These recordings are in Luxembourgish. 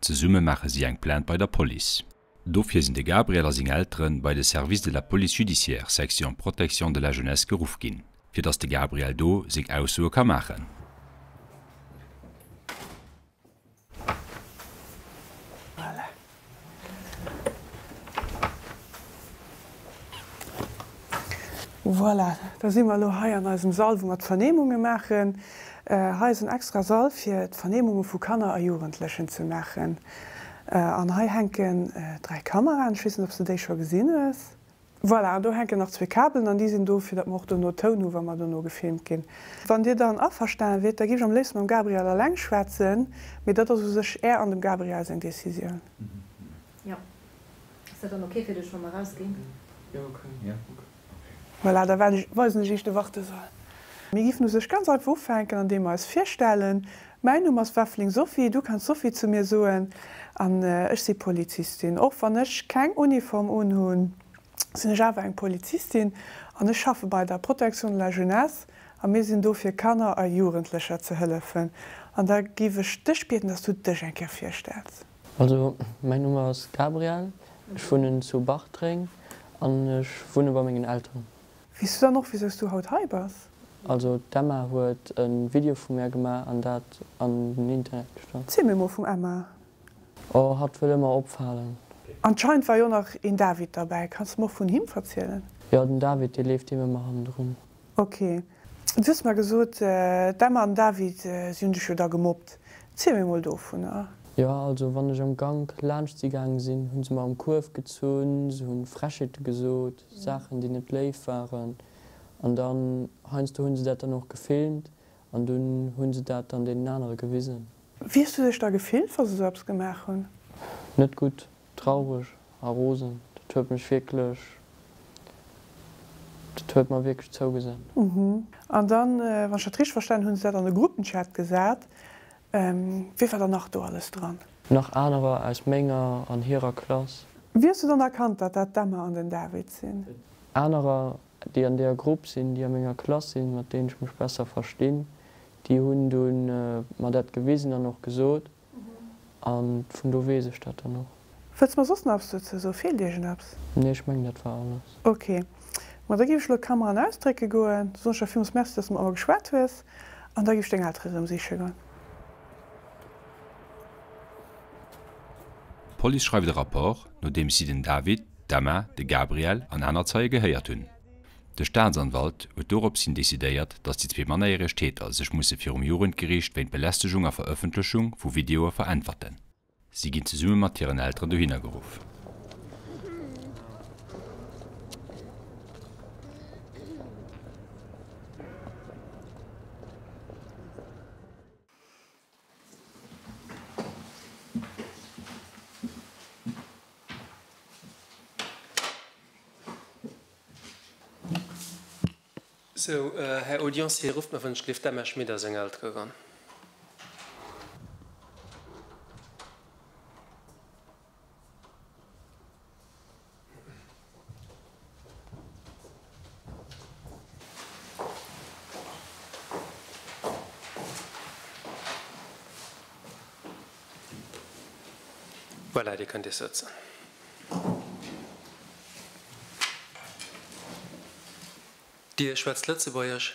Zesumme maache si eng Plainte bei der Police. Dofir sinn de Gabriel a seng Eltere bei de Service de la Police Judiciaire, Section Protection de la Jeunesse geruff ginn, fir datt de Gabriel do seng Aussoe ka maachen. Voilà, da si mer elo hei an eisem Sall, wou mer d'Vernehmunge maachen. Hei ass en extra Sall, fir d'Vernehmunge vu Kanner a Jugendlechen ze maachen. An hei hänken dräi Kameraen, ech weess net, ob s de déi scho gesinn hues. Voilà, an do hänken nach zwee Kabelen an déi sinn do fir datt mer och dono Toun hu wa mer dono gefilmt ginn. Wann Dir dann averstanen wiert, da géif ech am léifsten mam Gabriel alleng schwätzen, mee dat ass u sech Är an dem Gabriel seng Decisioun. Jo, ass dat dann ok fir dech wa mer erausginn? Voilà, da weisen ech Iech de Wartesaal. Mir géifen u sech ganz einfach ufänken an deem mer eis virstellen. Mäin Numm ass Wefling Sophie, du kanns Sophie zu mir soen, an ech si Polizistin. Och wann ech keng Uniform unhunn, sinn ech awer eng Polizistin an ech schaffe bei der Protection de la Jeunesse a mir sinn do fir Kanner a Jugendlecher ze hëllefen. An da géif ech dech bieden, dass du dech eng Kéier virstells. Also, mäin Numm ass Gabrielle, ech wunnen zu Bartreng an ech wunne bei mengen Elteren. Wees du dann och wiso's du haut hei bass? Also d'Emma huet e Video vu mär gemaach an dat an den Internet gestallt. Ziel mir mol vum Emma. Oh hatt wëll ëmmer opfalen. Anscheinend war jo nach een David derbäi, kanns de mer och vun him verzielen? Jo den David dee leeft deem ëmmer hannendrun. Ok du hues mer gesot d'Emma an den David si hunn dech jo da gemobbt, ziel mir mol dovunner. Jo also wann ech am Gank laanscht si gaange sinn hunn se mer um Kuerf gezunn, se hunn Frechheete gesot. Saachen déi net léif waren an dann heiansdo hunn se dat dann och gefilmt an dunn hunn se dat dann deenen anere gewisen. Wéi hues du dech da gefillt wa se sou eppes gemaach hunn? Net gutt, traureg a rosen. Dat huet mech wierklech, dat huet mer wierklech zougesat. An dann, wann ech dat richteg verstanen hunn, hunn se dat an de Gruppenchat gesat Wie war dann nach do alles dran? Nach anerer aus menger an hirer Klass. Wéi hues du dann erkannt, datt dat d'Emma an den David sinn? Anerer, déi an deeër Grupp sinn, déi a menger Klass sinn, mat deenen ech mech besser verstinn, déi hunn dunn mer dat gewisen an och gesot. An vun do weess ech dat dann och. Wëlls mer soss nach eppes dozou soen? Feelt iech en eppes? Nee, ech mengen dat war alles. Ok, ma da géif ech elo d'Kamera an ausdrécke goen. Du soen ech der villmools Merci, dass de mat mer geschwat hues an da géif ech deng Eltere rëm siche goen. D'Police schreift e Rapport, nodeems si den David, d'Emma, de Gabriel an aner Zeie gehéiert hunn. De Staatsanwalt huet dorops hin decidéiert, dass déi zwee mannerjäreg Täter sech musse virum Jugendgeriicht wéint Belästegung a Verëffentlechung vu Videoe veräntwerten. Si ginn zesumme mat hiren Elteren dohinner geruff. Sou, Här Audiencier, rufft mer, wann ech gleef, d'Emma Schmit a seng Eltere ran. Voilà, Dir kënnt Iech sëtzen. Dir schwätzt Lëtzebuergesch?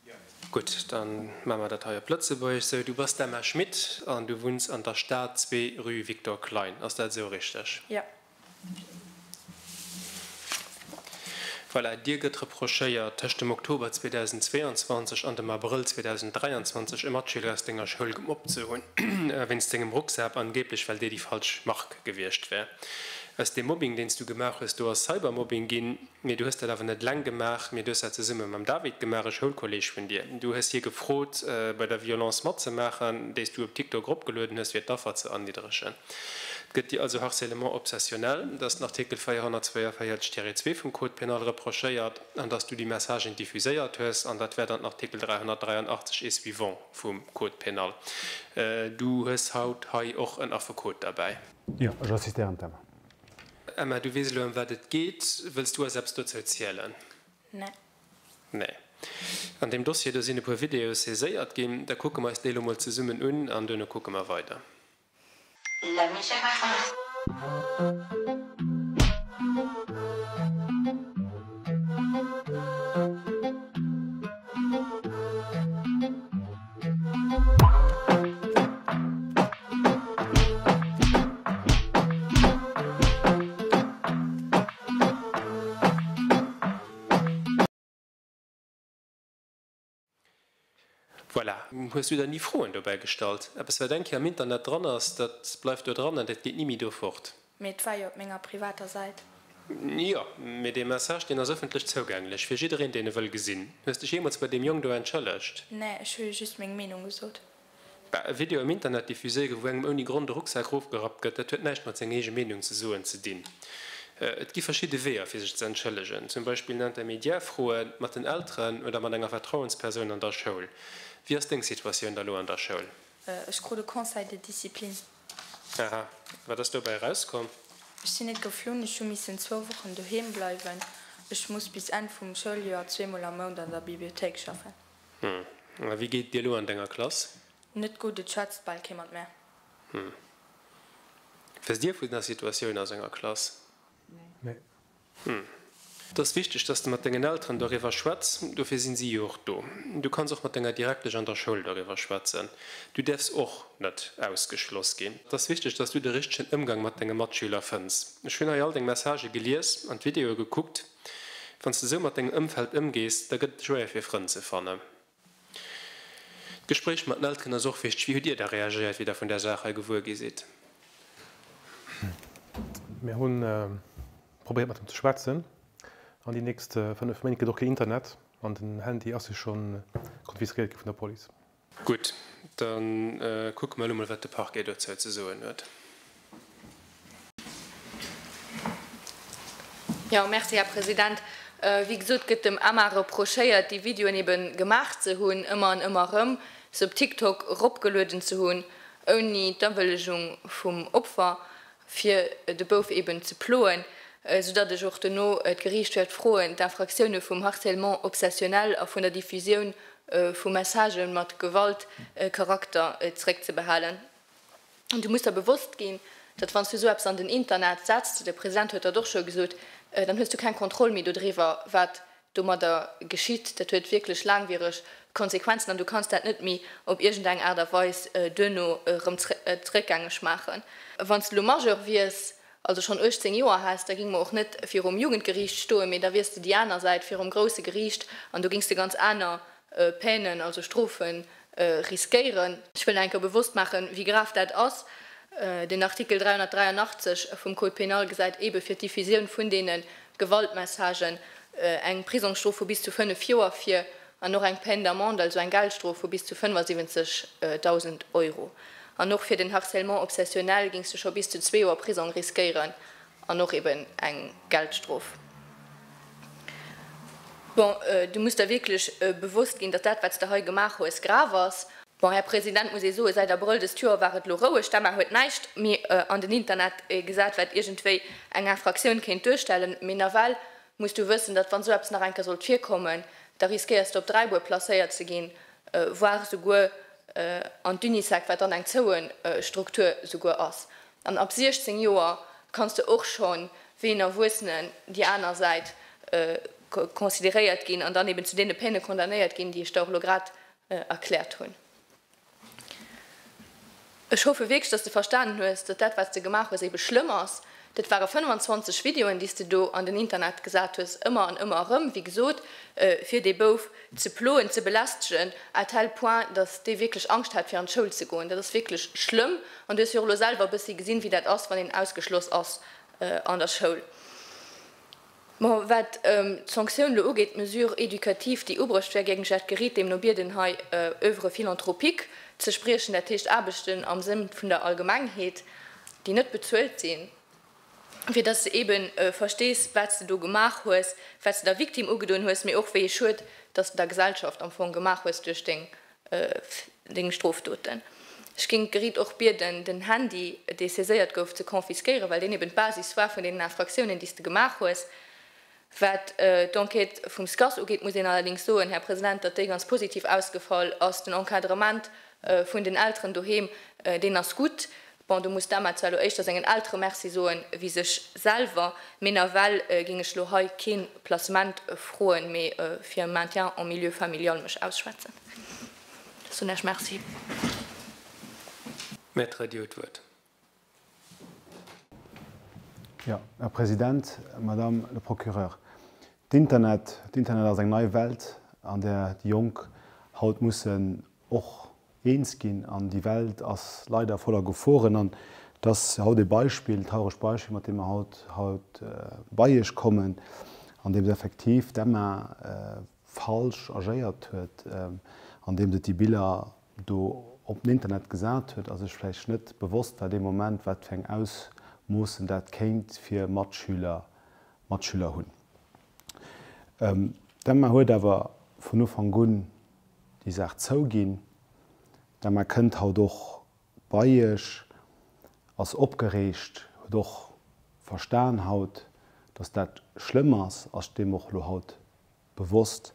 Jo. Gutt, da maache mer dat hei op Lëtzebuergesch. Sou, du bass d'Emma Schmit an du wunns an der Stad, zwee, rue Victor Klein. Ass dat esou richteg? Jo. Voilà, Dir gëtt reprochéiert, tëscht dem Oktober 2022 an dem Abrëll 2023 e Matschüler aus Denger Schoul gemobbt ze hunn, wéinst Dengem Rucksak, angeeblech well dee déi falsch Mark gewiescht wär. Aus deem Mobbing, deen s Du gemaach hues, do ass Cybermobbing ginn. Mee du hues dat awer net eleng gemaach, mee du hues dat zesumme mam David gemaach, e Schoulkolleeg vun dir. Du hues hie gefrot, bei der Violence matzemaachen, déi s du op TikTok eropgelueden hues, fir d'Affer ze erniddregen. Et gëtt dir also harcèlement obsessionnel, dass den Artikel 442 Tiret 2 vum Code pénal reprochéiert an dass du déi Messagen diffuséiert hues. An dat wäert an den Artikel 383 et suivants vum Code pénal. Du hues haut hei och en Affekot derbäi. Jo, ech assistéieren d'Emma. Emma, du weess elo ëm wat et geet. Wëlls du eis eppes dozou zielen? Nee. Nee. An deem Dossier do sinn e puer Videoe saiséiert ginn. Da kucke mer eis déi elo mol zesummen un an duerno kucke mer weider. La musique a fond. Voilà, hues du der ni Froen dobäi gestallt? Eppes wat eng Kéier am Internet dran ass, dat bleift do dran an dat geet ni méi do fort. Mee et war jo op menger privater Säit. Jo, mee dee Message, deen ass ëffentlech zougänglech fir jiddereen, deen e wëll gesinn. Hues dech jeemools bei deem Jong do entschëllegt? Nee, ech hu jo just meng Meenung gesot. Bah, e Video am Internet diffuséiere, wou engem ouni Grond e Rucksak erofgerappt gëtt, dat huet näischt mat senger eege Meenung ze soen ze dinn. Et gi verschidde Weeër, fir sech ze entschëllegen. Zum Beispill en Intermédiaire froen, mat den Elteren oder mat enger Vertrauenspersoun an der Schoul. Wéi ass deng Situatioun da lo an der Schoul? Ech krut e Conseil de discipline. Aha, wat ass dobäi erauskomm? Ech sinn net geflunn, ech hu missen zwou Wochen doheem bleiwen. Ech muss bis Enn vum Schouljoer zweemol am Mount an der Bibliothéik schaffen. Hm, a wéi geet et dir elo an denger Klass? Net gutt, et schwätzt bal kee mat mär. Hm. Wësst Dir vun der Situatioun a senger Klass? Et ass wichteg, dass de mat dengen Elteren doriwwer schwätz, dofir sinn si jo och do. Du kanns och mat denger Direktesch an der Schoul doriwwer schwätzen. Du däerfs och net ausgeschloss ginn. Et ass wichteg, dass du de richtegen Ëmgang mat denge Matschüler fënns. Ech hunn hei all deng Messagë gelies an d'Videoe gekuckt. Wann s de esou mat dengem Ëmfeld ëmgees, da gëtt et schwéier fir Frënn ze fannen. D'Gespréich mat den Elteren ass och wichteg. Wéi hutt Dir da reagéiert, wéi Der vun där Saach hei gewuer gi sidd? Mir hu probéiert mat him ze schwätzen. An déi nächst 5 Méint gëtt och keen Internet an den Handy ass jo scho konfiskéiert gi vun der Police. Gutt, da kucke mer elo mol, wat de Parquet dozou ze soen huet. Jo, merci, Här President. Wéi gesot, gëtt dem Emma reprochéiert, déi Videoen ebe gemaach ze hunn, ëmmer an ëmmer erëm se op TikTok eropgelueden ze hunn, ouni d'Awëllegung vum Opfer, fir de Bouf eben ze ploen. Soudatt ech och dono d'Geriicht wäert froen, d'Infractioune vum Harcèlement obsessionnel a vun der Diffusioun vu Messagë mat Gewaltcharakter zréckzebehalen. An du muss der bewosst ginn, datt wann s du sou eppes an den Internet setzt, de President huet dat och scho gesot, dann hues du keng Kontroll méi dodriwwer, wat domadder geschitt. Dat huet wierklech laangwiereg Konsequenzen an du kanns dat net méi op iergend eng Aart a Weis duerno erëm zréckgängeg maachen. Wann s du elo Majeur wiers, also schonn 18 Joer häss, da géing mer och net virum Jugendgeriicht stoen, mee da wiers de déi aner Säit virum grousse Geriicht an do géings de ganz aner Peinen, also Strofen, riskéieren. Ech wëll nach eng Kéier bewosst maachen, wéi grav dat ass. Den Artikel 383 vum Code pénal gesäit eebe fir d'Diffusioun vun deene Gewaltmessagen eng Prisongsstrof vu bis zu fënnef Joer vir an och eng Peine d'amende, also eng Geldstrof vu bis zu 75.000 Euro. An och fir den Harcèlement obsessionnel géings du scho bis zu zwee Joer Prisong riskéieren. An och eben eng Geldstrof. Bon, du muss der wierklech bewosst ginn, datt dat, wat s de hei gemaach hues, grav ass. Bon, Här President, muss ee soen, säit Abrëll dëst Joer war et elo roueg. D'Emma huet näischt méi an den Internet gesat, wat iergendwéi eng Infractioun kéint duerstellen. Mee nawell muss du wëssen, datt, wann esou eppes nach eng Kéier sollt virkommen, da riskéiers de op Dräibuer placéiert ze ginn, voire souguer an d'Unisec, wat dann eng zoue Struktur souguer ass. An ab 16 Joer kanns de och schonn wéi en Erwuessenen déi aner Säit consideréiert ginn an dann eben zu deene Peine condamnéiert ginn, déi ech der och elo grad erkläert hunn. Ech hoffe wierklech, dass de verstanen hues, datt dat, wat s de gemaach hues, ebe schlëmm ass. Dat ware 25 Videoen, déi s de do an den Internet gesat hues, ëmmer an ëmmer erëm, wéi gesot, fir dee Bouf, ze ploen, ze belästegen à tel point, datt dee wierklech Angscht hat fir an d'Schoul ze goen. Dat ass wierklech schlëmm an du hues jo och elo selwer e bëssi gesinn, wéi dat ass, wann een ausgeschloss ass an der Schoul. Mä wat d'Sanktioun elo ugeet, d'Mesure éducative, déi ubruecht wär géing ech dat Geritt deemno bieden, hei Oeuvre philanthropique ze spriechen, dat heescht Aarbechten am Sënn vun der Allgemengheet, déi net bezuelt sinn. fir dass s de ebe verstees, wat s de do gemaach hues, wat s de der Victime ugedoen hues, mee och wéi ee Schued, dass s de der Gesellschaft am Fong gemaach hues duerch deng Strofdoten. Ech géing d'Gericht och bieden, den Handy, dee saiséiert gouf, ze confisquéieren, well deen eben d'Basis war vun deenen Infractiounen, déi s de gemaach hues. Wat d'Enquête vum SCAS ugeet, muss een allerdéngs soen, Här President, datt déi ganz positiv ausgefall ass. Den Encadrement vun den Elteren doheem, deen ass gutt. Bon, do muss d'Emma zwar elo éischter sengen Eltere Merci soen wéi sech selwer. Mee nawell géing ech elo hei kee Placement froen, mee fir e Maintien en milieu familial mech ausschwätzen. Soen ech Merci. Maître Dieuet d'Wuert. Jo, Här President, Madame le Procureur, d'Internet, d'Internet ass eng nei Welt, an där déi Jonk haut mussen och eens ginn. An déi Welt ass leider voller Geforen. An et ass haut e Beispill, e trauregt Beispill, mat deem mer haut, haut bei Iech kommen, andeems effektiv d'Emma falsch agéiert huet, andeems et déi Biller do op den Internet gesat huet a sech vläicht net bewosst war dee Moment, wat fir eng Ausmoossen dat kéint fir Matschüler, Matschüler hunn. D'Emma huet awer vun Ufank un déi Saach zouginn. D'Emma kënnt haut och bei Iech, ass opgereegt, huet och verstan haut, dass dat schlëmm ass, ass deem och elo haut bewosst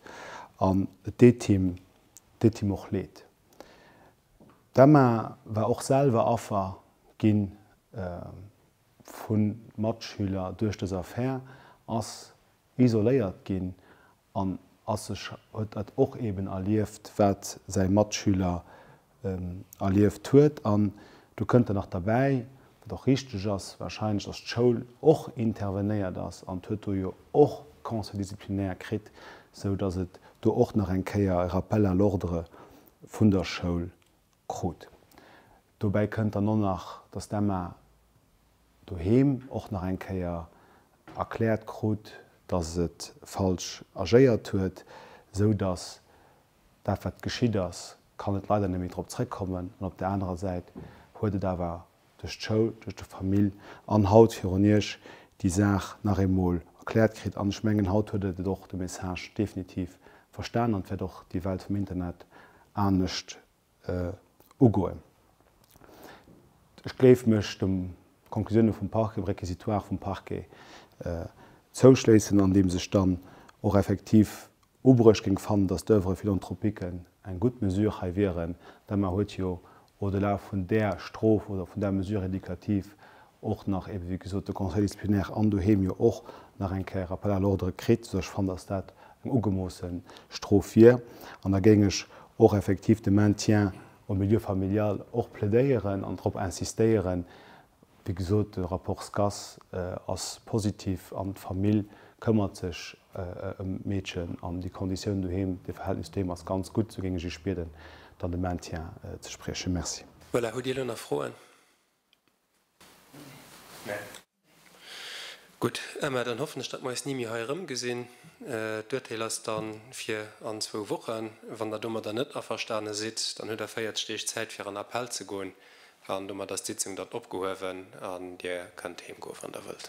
an et deet him deet him och Leed. D'Emma war och selwer Affer gi vu Matschüler duerch dës Affär, ass isoléiert ginn an ass sech huet dat och eeben erlieft, wat säi Matschüler erlieft huet an do kënnt dann nach derbäi, wat och richteg ass, wahrscheinlech, dass d'Schoul och intervenéiert ass an d'huet do jo och Conseil disciplinaire kritt, sou dass et do och nach eng Kéier e Rappel à l'ordre vun der Schoul krut. Dobäi kënnt dann och nach, dass d'Emma doheem och nach eng Kéier erkläert krut, dass et falsch agéiert huet, sou dass Dat wat geschitt ass, kann et leider net méi drop zréckkommen an op der anerer Säit huet et awer duerch d'Schoul, duerch de Famill an haut virun Iech déi Saach nach eemol erkläert kritt an ech mengen haut huet et et och de Message definitiv verstanen an et wäert och déi Welt vum Internet anescht ugoen. Ech gléif mech de Konklusioune vum Parquet, dem Réquisitoire vum Parquet zouschléissen, andeems ech dann och effektiv ubruecht géing fannen, datt d'Oeuvre philanthropique eng gutt Mesure hei wieren, d'Emma huet jo au-delà vun där Strof oder vun där Mesure éducative och nach ebe wéi gesot de Conseil disciplinaire an doheem jo och nach eng Kéier Rappel à l'ordre kritt, sou ech fannen, dass dat eng ugemoosse Strof wier. An da géing ech och effektiv de Maintien au milieu familial och plädéieren an drop insistéieren, wéi gesot, de Rapport SCAS ass positiv an d'Famill këmmert sech ëm d'Meedchen an déi Konditioun doheem, de Verhältnis doheem ass ganz gutt, sou géing ech Iech bieden, dann de Maintien ze spriechen. Merci. Voilà, hutt Dir elo nach Froen? Gutt, Emma, dann hoffen ech, datt mer eis ni méi hei erëmgesinn. D'Urteel ass da fir an zwou Wochen. Wann Der domadder net averstane sidd, dann hutt Der 40 Deeg Zäit, fir an Appell ze goen. An domat ass d'Sitzung dann opgehuewen an Dir kënnt heemgoe wann Der wëllt.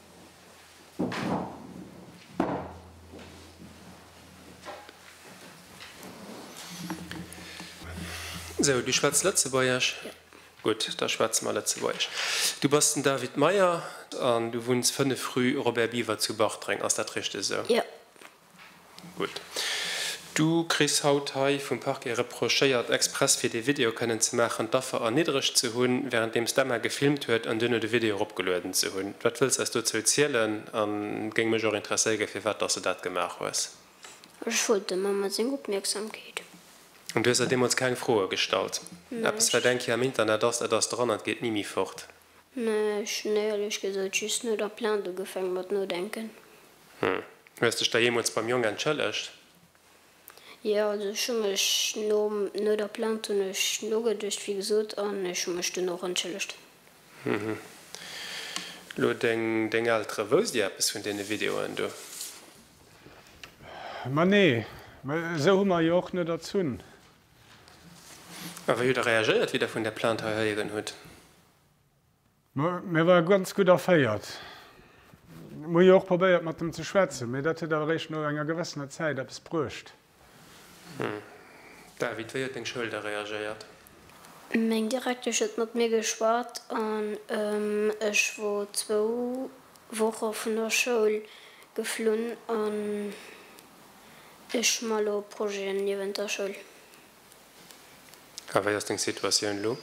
Sou, du schwätz Lëtzebuergesch? Gutt, da schwätze mer Lëtzebuergesch. Du bass den David Meyer an du wunns 5 rue Robert Biever zu Bartreng. Ass dat richteg esou? Jo. Gutt. Du kriss haut hei vum Parquet reprochéiert, express fir dee Video kënnen ze maachen, d'Affer erniddregt ze hunn, wärenddeems d'Emma gefilmt huet an duerno de Video eropgelueden ze hunn. Wat wëlls eis dozou zielen? An géing mech och interesséigen, firwat dass de dat gemaach hues. Ech wollt der Mamma seng Opmierksamkeet. An du hues der deemools keng Froe gestallt? Näischt. Eppes, wat eng Kéier am Internet ass, dat ass dran an et geet ni méi fort. Mä ech hunn éierlech gesot just no der Plainte ugefaangen mat nodenken. Hm. Hues dech da jeemools beim Jong entschëllegt? Jo, also ech hu mech nom, no der Plainte hunn ech nogeduecht, wéi gesot, an ech hu mech dunn och entschëllegt. Hm. Lo deng, deng Eltere, wousst Dir eppes vun deene Videoen do? Ma nee, mä esou hu mer jo och net erzunn. A wéi hutt Der reagéiert, wéi Der vun där Plainte hei héieren hutt? Mä war ganz gutt erféiert. Mir hu jo och probéiert mat em ze schwätzen, mä dat huet awer réischt no enger gewëssener Zäit eppes bruecht. Hm. David, wéi huet deng Schoul da reagéiert? Meng Direktesch huet mat mir geschwat an ech wor zwou Woche vun der Schoul geflunn an ech man elo Projeten niewent der Schoul. A wéi ass deng Situatioun elo?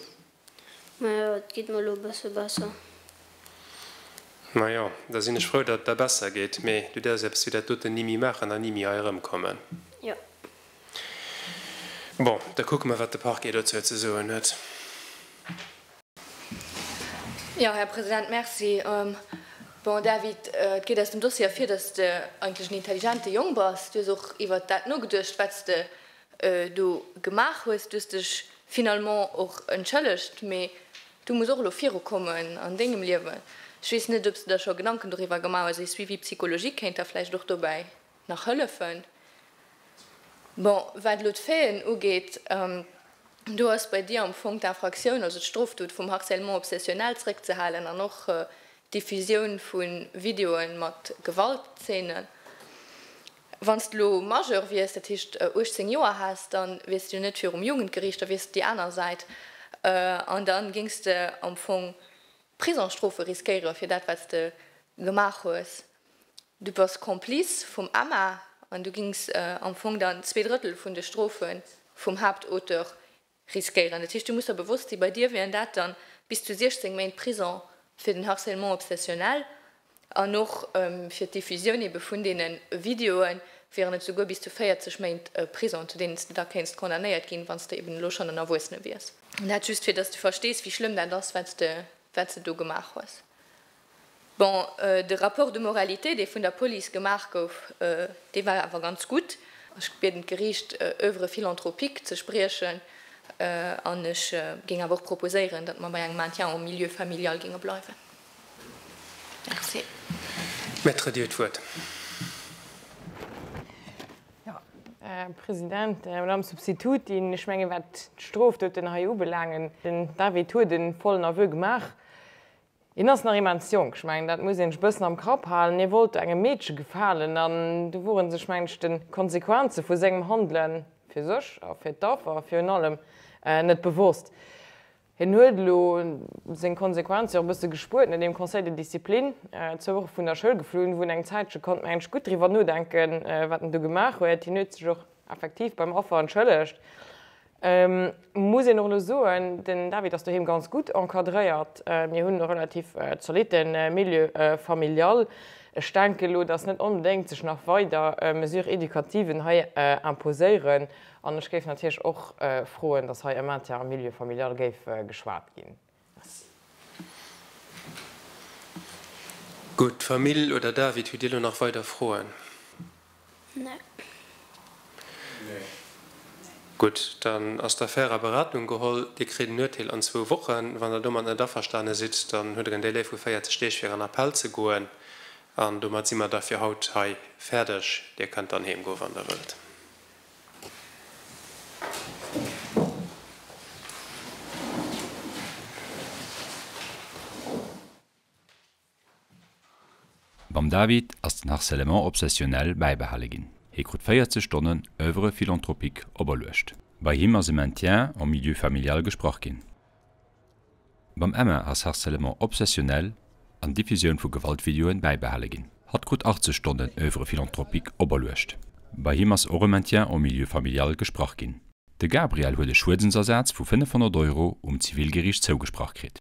Majo, et geet mer elo e bësse besser. Majo, da sinn ech frou, datt et der besser geet. Mee du däerfs eppes wéi dat doten ni méi maachen an ni méi hei erëmkommen. Jo. Bon, da kucke mer, wat de Parquet dozou ze soen huet. Jo, Här President, merci. Bon, David, et geet aus dem Dossier ervir, datt s de eigentlech en intelligente Jong bass. Du hues och iwwert dat nogeduecht, wat s de do gemaach hues, du hues dech finalement och entschëllegt, mee du muss och elo virukommen an dengem Liewen. Ech weess net ob s de der scho Gedanken doriwwer gemaach hues, e Suivi psychologique kéint der vläicht och dobäi nach hëllefen. Bon, wat elo d'Faiten ugeet, do ass bei dir am Fong d'Infractioun, also d'Strofdot vum Harcèlement obsessionnel zréckzehalen an och d'Diffusioun vu Videoe mat Gewaltzeenen. Wann s de elo Majeur wiers, dat heescht 18 Joer häss, da wiers de jo net virum Jugendgeriicht, da wiers de déi aner Säit an da géings de am Fong Prisongsstrofe riskéiere fir dat, wat s de gemaach hues. Du bass Complice vum Emma an du géings am Fong dann zwee Drëttel vun de Strofe vum Haaptauteur Riskéieren. Dat heescht, du muss der bewosst sinn, bei dir wieren dat dann bis zu 16 Méint Prison fir den Harcèlement obsessionnel an och fir d'Diffusioun ebe vun deene Videoe wieren et souguer bis zu 40 Méint Prison, zu deenen s de da kéints condamnéiert ginn, wann s de eben elo schonn en Erwuessene wiers. Dat just, fir dass du verstees, wéi schlëmm dat ass, wat s de do gemaach hues. Bon, de Rapport de moralité, dee vun der Police gemaach gouf, dee war awer ganz gutt. Ech bieden d'Geriicht, Oeuvre philanthropique ze spriechen an ech géing awer och proposéieren, datt mer bei engem Maintien en milieu familial géinge bleiwen. Merci. Maître, Dir hutt d'Wuert. President, Madame Substitutin, ech menge wat d'Strofdoten hei ubelaangen, den David huet e vollen Aveu gemaach. Hien ass nach immens jonk, ech mengen dat muss een sech e bëssen am Kapp halen. Hie wollt do engem Meedche gefalen an do wor en sech mengen ech de Konsequenze vu sengem Handele fir sech a fir d'Affer virun allem net bewosst. Hien huet elo seng Konsequenze och e bësse gespuert no deem Conseil de discipline, zwou Woche vun der Schoul geflunn, wou en eng Zäitche konnt mengen ech gutt driwwer nodenken wat en do gemaach huet. Hien huet sech och effektiv beim Affer entschëllegt. Muss een och elo soen, den David ass doheem ganz gutt encadréiert. Mir hunn e relativ zolitte Milieu familial. Ech denken elo, dass net onbedéngt sech nach weider Mesures éducativen hei imposéieren an ech géif natierlech och froen, dass hei e Maintien am Milieu familial géif geschwat ginn. Gutt, Famill oder David, hutt Dir elo nach weider Froen? Gutt, dann ass d'Affär a Beratung geholl. Dir kritt en Urteel an zwou Wochen. Wann Der domat net averstane sidd, dann hutt Der en Delai vu 40 Deeg fir an Appell ze goen. An domat si mer da fir haut hei fäerdeg. Dir kënnt dann heem goe wann Der wëllt. Beim David ass den Harcèlement obsessionnel bäibehale ginn. Hie krut 40 Stonnen Oeuvre philanthropique operluecht. Bei him ass e Maintien en milieu familial gesprach ginn. Mam Emma ass Harcèlement obsessionnel an Diffusioun vu Gewaltvideoen bäibehale ginn. Hatt krut 80 Stonnen Oeuvre philanthropique operluecht. Bei him ass och e Maintien en milieu familial gesprach ginn. De Gabriel huet e Schuedensersaz vu 500 Euro um Zivilgeriicht zougesprach kritt.